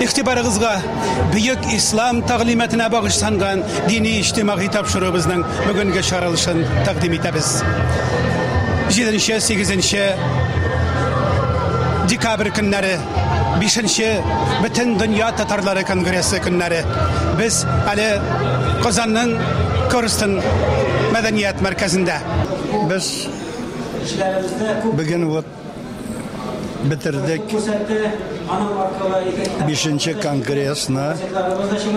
игътибарыгызга бөек ислам тәгълиматына багышланган дини иҗтимагый тапшыруыбызның бүгенге чаралышын тәкъдим итәбез. 7-8 декабрь көннәре Бишенче Бөтендөнья татарлары конгрессы көннәре без әле Казанның Корстон мәдәният мәркәзендә. Без бүген вот бетердек бишенче конгрессны.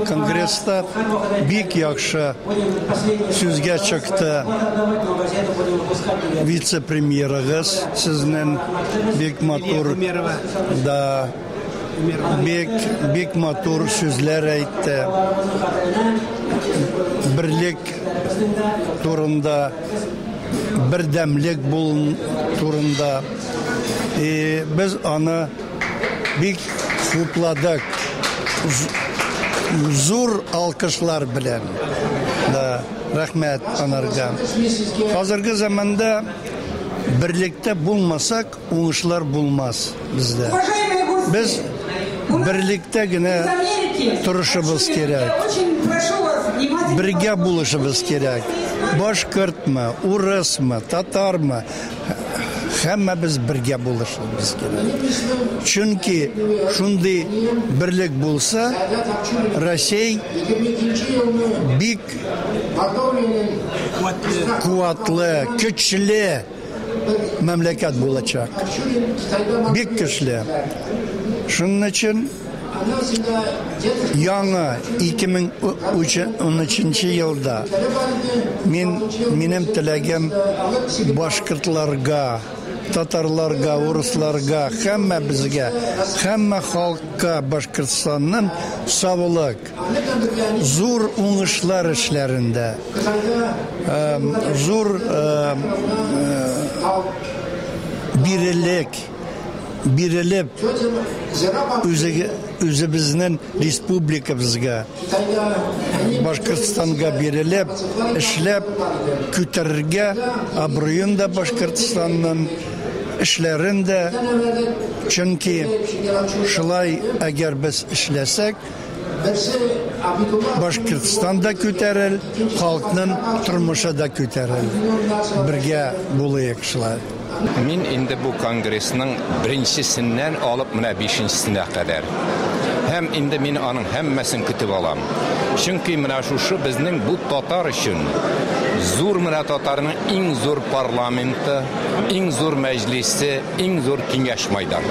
Конгресста бик яхшы сүзгә чыкты вице-премьерыгыз сезнең. Бик матур. Да. Бик бик матур сүзләр әйтте. Берлек турында бердәмлек булын турында. И без аны бик хупладык. Зур алкышлар белән. Да, рәхмәт анарга. Хәзерге заманда Берлектә булмасак, уңышлар булмас бездә. Без берлектә генә торышыбыз кирәк. Бергә булышыбыз кирәк. Башкортмы, урысмы, татармы, һәммәбез бергә булышыбыз кирәк. Чөнки шундый берлек булса, Россия бик Куатлы, көчле мәмләкәт булачак. Бик көчле. Шуның өчен яңа 2013 елда мин, минем теләгем башкортларга, татарларга, урысларга, һәммәбезгә, һәммә халыкка Башкортстанның саулык, Зур уңышлар эшләрендә, зур бирелек бирелеп, үзебезнең республикабызга, Башкортстанга бирелеп, эшләп күтәрергә, абруен да Башкортстанның эшләрен дә, чөнки шулай әгәр без эшләсәк, Башкортстан да күтәрер, халкның тормышы да күтәрер. Бергә булыйк шулай. Мин инде бу конгрессның беренчесеннән алып менә бишенчесенә кадәр һәм инде мин аның һәммәсен көтеп алам. Чөнки менә шушы безнең бу татар өчен зур менә татарның иң зур парламенты, иң зур мәҗлесе, Иң зур киңәш майдан.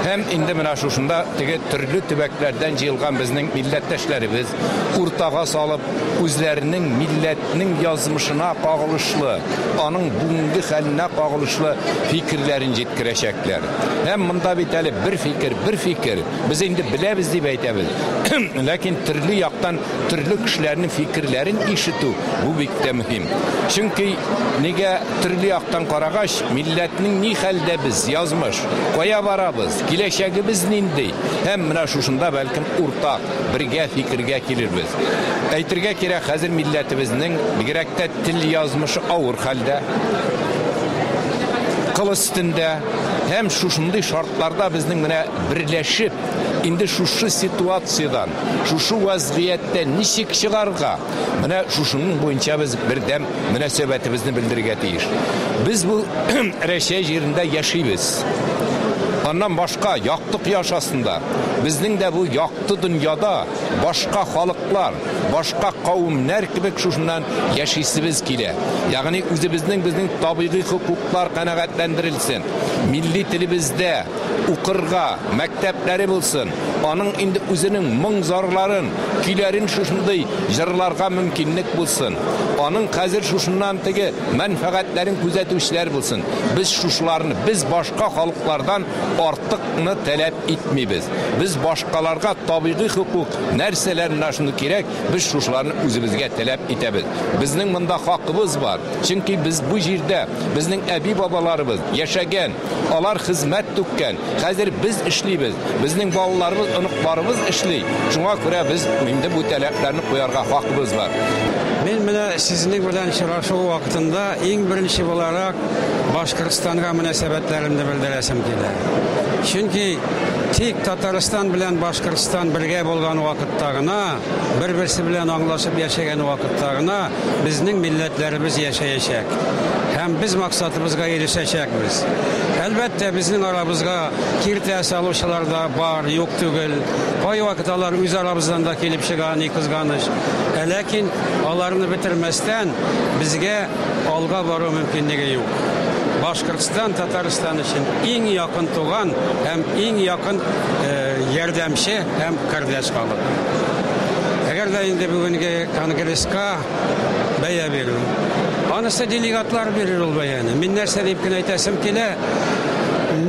Һәм инде менә шушында теге төрле төбәкләрдән җыелган безнең милләттәшләребез, уртага салып, үзләренең милләтнең язмышына кагылышлы, аның бүгенге хәленә кагылышлы фикерләрен җиткерәчәкләр. Һәм монда бит әле бер фикер, бер фикер, без инде беләбез дип әйтәбез, ләкин төрле яктан Төрле кешеләрнең фикерләрен ишетү бу бик тә мөһим. Чөнки нигә төрле яктан карагач, милләтнең ни хәлдә без, язмыш, кая барабыз, киләчәгебез нинди? Һәм менә шушында бәлкем уртак, бергә фикергә килербез. Әйтергә кирәк, хәзер милләтебезнең, бигрәк тә тел язмышы авыр хәлдә, кыл өстендә. Һәм шушындый шартларда безнең менә берләшеп, инде шушы ситуациядән, Шушы вәзгыятьтән ничек чыгарга? Менә шушының буенча без бердәм мөнәсәбәтебезне белдерергә тиеш. Без бу Рәчәй җирендә яшибез. Аннан башка якты кояш астында безнең дә бу якты дөньяда башка халыклар, башка кавемнәр кебек шушыннан яшисебез килә. Ягъни үзебезнең безнең табигый хокуклар канәгатьләндерелсен, милли телебездә укырга мәктәпләре булсын. Аның инде үзенең моң-зарларын, көйләрен шушындый җырларга мөмкинлек булсын. Аның хәзер шушыннан теге мәнфәгатьләрен күзәтүчеләр булсын. Без шушыларны, без башка халыклардан артыкны таләп итмибез. Без башкаларга табигый хокук, нәрсәләр менә шундый кирәк, без шушыларны үзебезгә таләп итәбез. Безнең монда хакыбыз бар. Чөнки без бу җирдә, безнең әби-бабаларыбыз яшәгән. Алар хезмәт түккән. Хәзер без эшлибез. Безнең балаларыбыз, оныкларыбыз эшли. Шуңа күрә без инде бу таләпләрне куярга хакыбыз бар. Мин менә сезнең белән сорашу вакытында иң беренче буларак Башкортстанга мөнәсәбәтләремне белдерәсем килә. Чөнки тик Татарстан белән Башкортстан бергә булган вакытта гына, бер-берсе белән аңлашып яшәгән вакытта гына Безнең милләтләребез яшәячәк һәм без максатыбызга ирешәчәкбез. Әлбәттә, безнең арабызга киртә салучылар да бар, юк түгел. Кайвакыт алар үз арабыздан да килеп чыга, ни кызганыч. Ә ләкин аларны бетермәстән, безгә алга бару мөмкинлеге юк. Башкортстан Татарстан өчен иң якын туган һәм иң якын ярдәмче һәм кардәш халык. Әгәр дә инде бүгенге Конгресска бәя бирү. Анысы делегатлар бирер ул бәяне. Мин нәрсә дип кенә әйтәсем килә,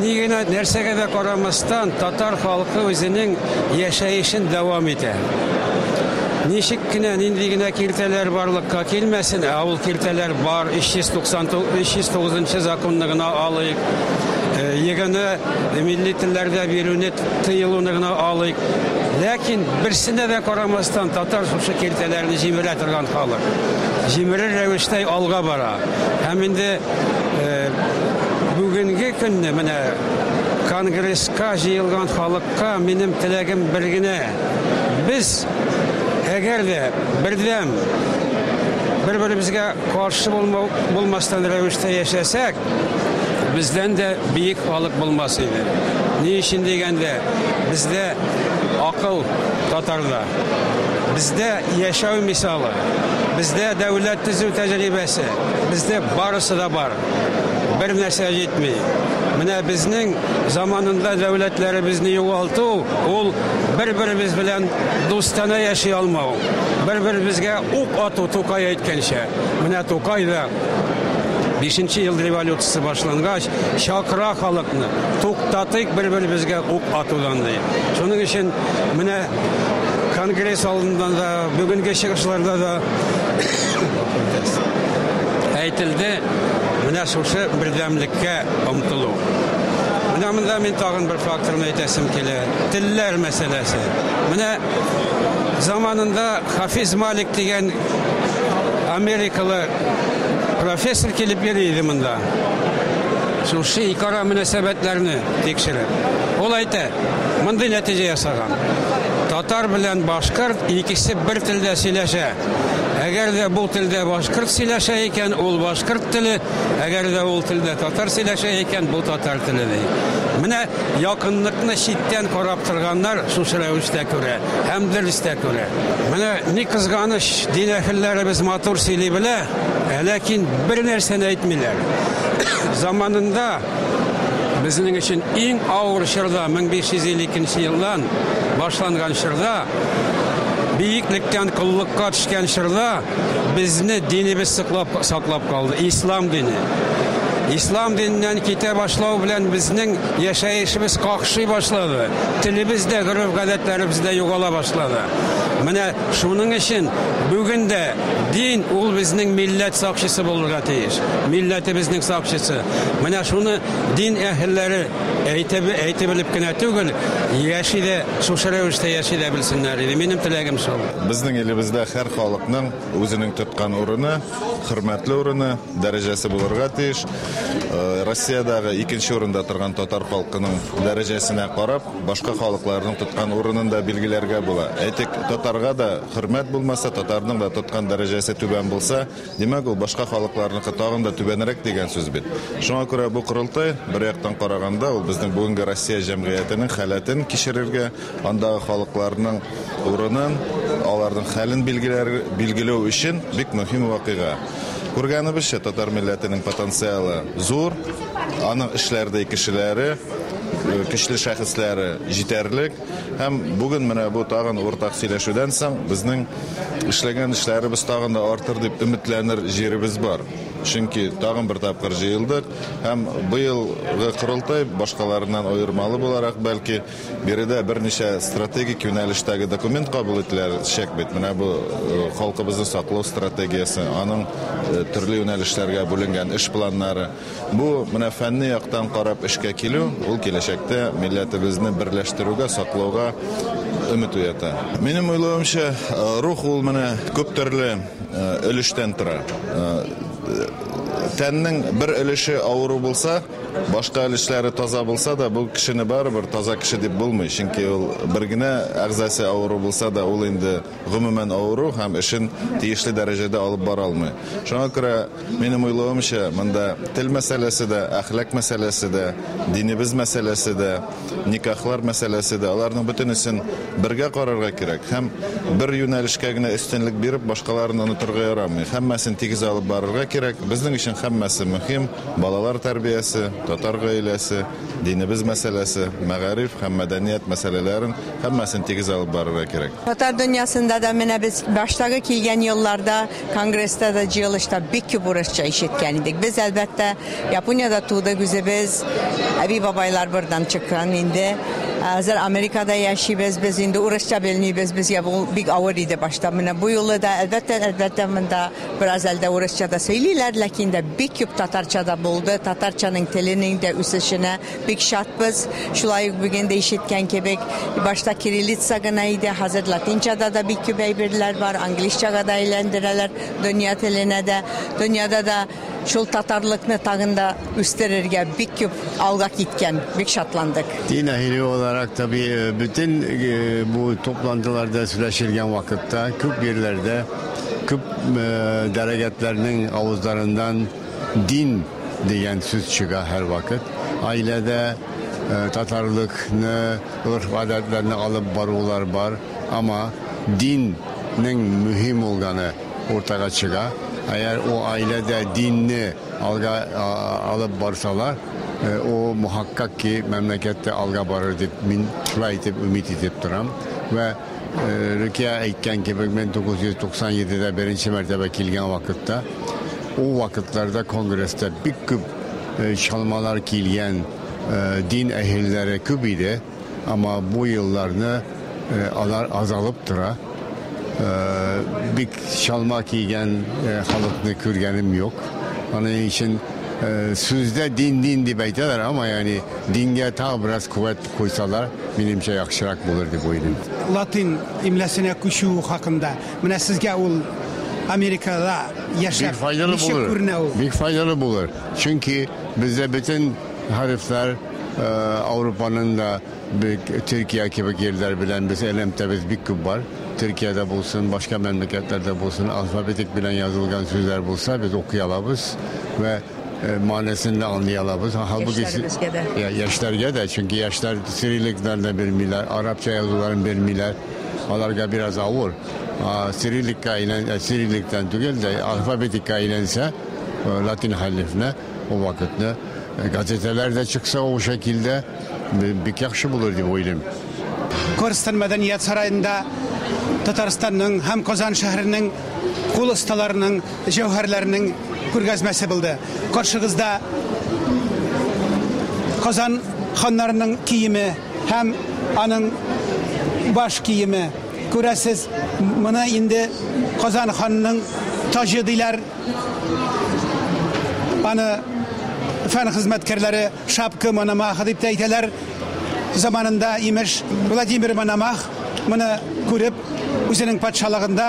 ни генә, нәрсәгә дә карамастан, татар халкы үзенең яшәешен дәвам итә. Ничек кенә, нинди генә киртәләр барлыкка килмәсен, ә ул киртәләр бар, 399 нчы законны гына алыйк, егыны милли телләрдә бирүне тыелуны гына алыйк, ләкин берсенә дә карамастан, Татарстан татар шушы киртәләрне җимерә торган халык. Җимерер рәвештә алга бара. Һәм инде бүгенге көнне менә конгресска җыелган халыкка минем теләгем бер генә, без әгәр дә бердәм, бер-беребезгә каршы булмау булмастан рәвештә яшәсәк, бездән дә биек халык булмас иде. Ни өчен дигәндә, бездә Акыл татарда. Бездә яшәү мисалы, бездә дәүләт төзү тәҗрибәсе, бездә барысы да бар. Бер нәрсә җитми. Менә безнең заманында дәүләтләребезне югалту, ул бер-беребез белән дустанә яши алмау, бер-беребезгә ук ату, Тукай әйткәнчә. Менә Тукай да Бишенче ел революциясе башлангач, чакыра халыкны, туктатыйк бер-беребезгә ук атудан, ди. Шуның өчен менә конгресс алдында да, бүгенге чыгышларда да әйтелде, менә шушы бердәмлеккә омтылу. Менә монда мин тагын бер факторны әйтәсем килә. Телләр мәсьәләсе. Менә заманында Хафиз Малик дигән Америкалы профессор килеп йөри иде монда. Шушы икара мөнәсәбәтләрне тикшереп. Ул әйтә, мондый нәтиҗә ясаган. Татар белән башкорт икесе бер телдә сөйләшә. Әгәр дә бу телдә башкорт сөйләшә икән, ул башкорт теле, әгәр дә ул телдә татар сөйләшә икән, бу татар теле, ди. Менә якынлыкны читтән карап торганнар шушы рәвештә күрә. Һәм дөрес тә күрә. Менә ни кызганыч, дин әһелләребез матур сөйли белә, ә ләкин бер нәрсәне әйтмиләр. Заманында, безнең өчен иң авыр чорда, 1552 нче елдан башланган чорда, биеклектән коллыкка төшкән чорда, безне динебез соклап, саклап калды, ислам дине. Ислам диненнән китә башлау белән, безнең. Яшәешебез какшый башлады, телебез дә, гореф-гадәтләребез дә югала башлады. Менә шуның өчен бүген дә дин ул безнең милләт сакчысы булырга тиеш, милләтебезнең сакчысы. Менә шуны дин әһелләре әйтеп әйтеп белеп кенә түгел, яши дә, шушы рәвештә яши дә белсеннәр иде. Минем теләгем шул. Безнең илебездә һәр халыкның үзенең тоткан урыны, хөрмәтле урыны, дәрәҗәсе булырга тиеш. Э, Россиядәге икенче урында торган татар халкының дәрәҗәсенә карап, башка халыкларның тоткан урынын да билгеләргә була. Әйтик, татарга да хөрмәт булмаса, татарның да тоткан дәрәҗәсе түбән булса, димәк ул башка халыкларныкы тагын да түбәнрәк дигән сүз бит. Шуңа күрә бу корылтай бер яктан караганда ул безнең бүгенге Россия җәмгыятенең халәтен кичерергә, Андагы халыкларның урынын, аларның хәлен билгеләр, билгеләү өчен бик мөһим вакыйга. Күргәнебезчә, татар милләтенең потенциалы зур, аның эшләрдәй кешеләре, көчле шәхесләре җитәрлек. Һәм бүген менә бу тагын уртак сөйләшүдән соң безнең эшләгән эшләребез тагын да артыр дип өметләнер җиребез бар. Чөнки тагын бер тапкыр җыелдык һәм быелгы корылтай башкаларыннан аермалы буларак, бәлки, Биредә берничә стратегик юнәлештәге документ кабул ителәр чәк бит. Менә бу халкыбызны саклау стратегиясе, аның төрле юнәлешләргә бүленгән эш планнары. Бу менә фәнни яктан карап эшкә килү, ул киләчәктә милләтебезне берләштерүгә, саклауга өмет уята. Минем уйлавымча, рух ул менә күп төрле өлештән тора. Тәннең бер өлеше авыру булса, Башка өлешләре таза булса да, бу кешене барыбер таза кеше дип булмый, чөнки ул бер генә әгъзасы авыру булса да, ул инде гомумән авыру һәм эшен тиешле дәрәҗәдә алып бара алмый. Шуңа күрә, минем уйлавымча, монда тел мәсьәләсе дә, әхлак мәсьәләсе дә, динебез мәсьәләсе дә, никахлар мәсьәләсе дә, аларның бөтенесен бергә карарга кирәк һәм бер юнәлешкә генә өстенлек биреп, башкаларын онытырга ярамый. Һәммәсен тигез алып барырга кирәк. Безнең өчен һәммәсе мөһим. Балалар тәрбиясе, татар гаиләсе, динебез мәсьәләсе, мәгариф һәм мәдәният мәсьәләләрен, һәммәсен тигез алып барырга кирәк. Татар дөньясында да менә без баштагы килгән елларда конгресста да, җыелышта бик күп урысча ишеткән идек. Без, әлбәттә, Япониядә тудык, үзебез әби-бабайлар бордан чыккан инде. Ә хәзер Америкада яшибез, без инде урысча белмибез, безгә бу бик авыр иде башта. Менә бу юлы да, әлбәттә, әлбәттә, монда. Бераз әлдә урысча да сөйлиләр, ләкин дә бик күп татарча да булды. Татарчаның теленең дә үсешенә бик шатбыз. Шулай ук бүген дә ишеткән кебек, башта кириллица гына иде, хәзер латинчада да бик күп әйберләр бар, английсчага да әйләндерәләр, дөнья теленә дә. Дөньяда да шул татарлыкны тагын да үстерергә бик күп алга киткән, бик шатландык. Дин әһеле буларак, табигый, бөтен бу туплантыларда сөйләшелгән вакытта күп җирләрдә, Күп дәрәгәтләрнең авызларыннан дин дигән сүз чыга һәрвакыт. Гаиләдә татарлыкны, горф-гадәтләрне алып барулар бар, ама диннең мөһим булганы уртага чыга. Әгәр ул гаиләдә динне алга алып барсалар, ул мөхәккәк ки мәмләкәт тә алга барыр дип мин шулай итеп өмид итеп торам. Вә. Рөкия әйткән кебек, 1997-дә беренче мәртәбә килгән вакытта, ул вакытларда конгресста бик күп э, чалмалар килгән э, дин әһелләре күп иде, әмма бу елларны э, алар азалып тора. Бик чалма кигән халыкны күргәнем юк. Аның өчен сүздә дин-дин дип әйтәләр, әмма яни дингә тагы бераз куәт куйсалар, минемчә яхшырак булыр дип уйлыйм. Латин имләсенә күчү хакында. Менә сезгә ул Америкада яшәп ничек күренә ул? Бик файдалы булыр. Чөнки бездә бөтен хәрефләр Ауропаның да бик Төркия кебек җирләр белән без элемтәбез бик күп бар. Төркиядә булсын, башка мәмләкәтләрдә булсын, алфавитик белән язылган сүзләр булса, без укый алабыз вә Э, мәнәсен дә аңлый алабыз. Халбуки яшьләргә дә, чөнки яшьләр сирилектан да белмиләр, арабча язуларын белмиләр. Аларга бераз авыр. Сириликка әйлән, э, сирилектан түгел дә алфавитикка әйләнсә, э, латин хәрефенә ул вакытны газеталар да чыкса ул шәкилдә бик яхшы булыр дип уйлыйм. Корстон мәдәният сараенда Татарстанның һәм Казан шәһәренең кул осталарының җәүһәрләрнең күргәзмәсе булды. Каршыгызда Казан ханнарының киеме һәм аның баш киеме. Күрәсез, моны инде Казан ханының таҗы диләр. Аны фән хезмәткәрләре шапка Мономаха дип тә әйтәләр. Заманында, имеш, Владимир Мономах моны күреп, үзенең патшалыгында